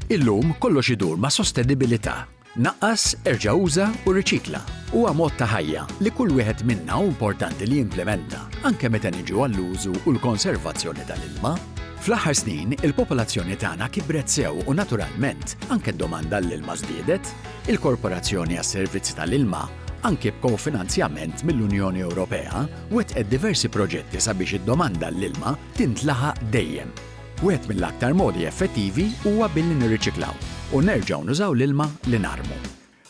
Illum kollox idur ma' sostenibilità. Naqqas, erġa' uża u riċikla huwa mod ta' ħajja li kull wieħed minna hu importanti li jimplimenta, anke meta niġu għall-użu u l-konservazzjoni tal-ilma. Fl-aħħar snin, il-popolazzjoni tagħna kibret sew u naturalment, anke d-domanda għall-ilma żdiedet. Il-Korporazzjoni għas-Servizzi tal-Ilma, anke b'kofinanzjament mill-Unjoni Ewropea, wettqet diversi proġetti sabiex id-domanda għall-ilma tintlaħaq dejjem. Wieħed mill-aktar modi effettivi huwa billi nirriċiklaw u nerġgħu nużaw l-ilma li narmu.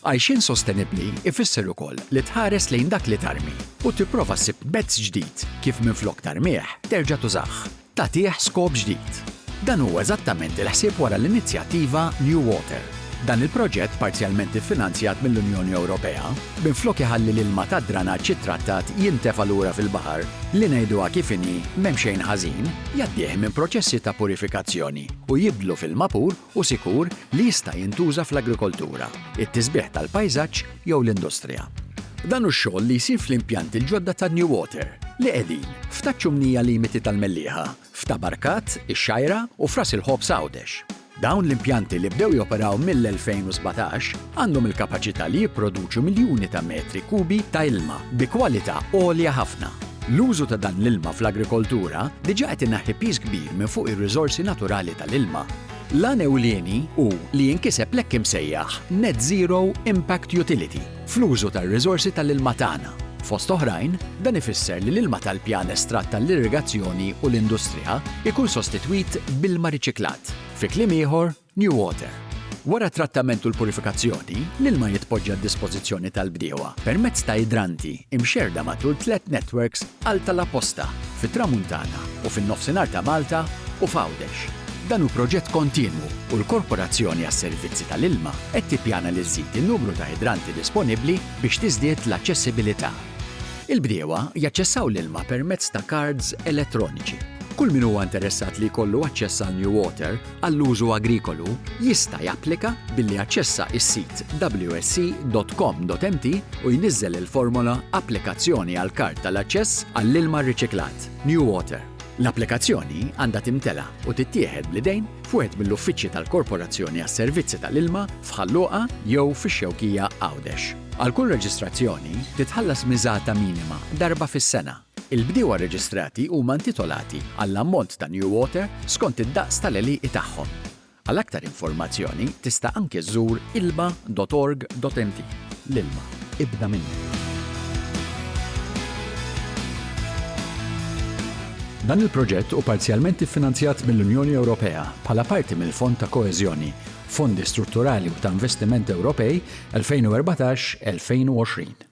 Għajxien sostenibbli jfisser ukoll li tħares lejn dak li tarmi u tipprova ssib mezz ġdid kif minflok tarmih terġa' tużah, tagħtih skop ġdid. Dan hu eżattament il-ħsieb wara l-inizjattiva New Water. Dan il-proġett, parzjalment iffinanzjat mill-Unjoni Ewropea, minflok iħalli l-ilma tad-dranaġġ ittrattat jintefa' lura fil-baħar, li ngħiduha kif inhi, m'hemm xejn ħażin, jgħaddih minn proċessi ta' purifikazzjoni u jibdlu f'ilma pur u sikur li jista' jintuża fl-agrikoltura, it-tisbiħ tal-pajżaġġ jew l-industrija. Dan hu x-xogħol li jsir fl-impjanti l-ġodda ta' Newater, li qegħdin, f'Ta' Ċumnija limiti tal-Mellieħa. f'Tabarkat, ix-Xgħajra u f'Ras il-Ħobż Għawdex. Dawn l-impjanti li bdew joperaw mill-2017 għandhom il-kapaċità li jipproduċu miljuni ta' metri kubi ta' ilma bi kwalità għolja ħafna. L-użu ta' dan l-ilma fl-agrikoltura diġà qed ineħħi piż kbir minn fuq ir-riżorsi naturali tal-ilma. L-għan ewlieni hu li jinkiseb l-hekk imsejjaħ Net Zero Impact Utility, fl-użu tar-riżorsi tal-ilma tagħna. Fost oħrajn, dan ifisser li l-ilma tal-pjan estratt għall-irrigazzjoni u l-industrija jkun sostitwit b'ilma riċiklat, fi kliem ieħor, new water. Wara t-trattament u l-purifikazzjoni, l-ilma jitpoġġa għad-dispożizzjoni tal-bdiewa permezz ta' idranti mxerrda matul tliet netwerks għal tal-aposta fit-Tramuntana, u fin-Nofsinhar ta' Malta u f'Għawdex. Dan hu proġett kontinwu u l-Korporazzjoni għas-Servizzi tal-Ilma qed tippjana li żżid in-numru ta' idranti disponibbli biex tiżdied l-aċċessibilità. Il-bdiewa jaċċessaw l-ilma permezz ta' kards elettroniċi. Kull min huwa interessat li jkollu aċċess għal New Water għall-użu agrikolu jista' japplika billi jaċċessa s-sit wsc.com.mt u jniżżel il-formola Applikazzjoni għall-Kard tal-Aċċess għall-Ilma Rriċiklat. New Water. L-applikazzjoni għandha timtela u tittieħed bl-idejn f'wieħed mill-uffiċċji tal-Korporazzjoni għas-Servizzi tal-Ilma f'Ħal Luqa jew fix-Xewkija, Għawdex. Għal kull reġistrazzjoni, titħallas miżata minima darba fis-sena. Il-bdiewa reġistrati huma intitolati għall-ammont ta' New Water skont id-daqs tal-għelieqi tagħhom. Għal aktar informazzjoni tista' anke żżur ilma dot org dot mt. L-ilma, ibda minnu! Dan il-proġett hu parzjalment iffinanzjat mill-Unjoni Ewropea bħala parti mill-Fond ta' Koeżjoni, Fondi Strutturali u ta' Investiment Ewropej 2014-2020.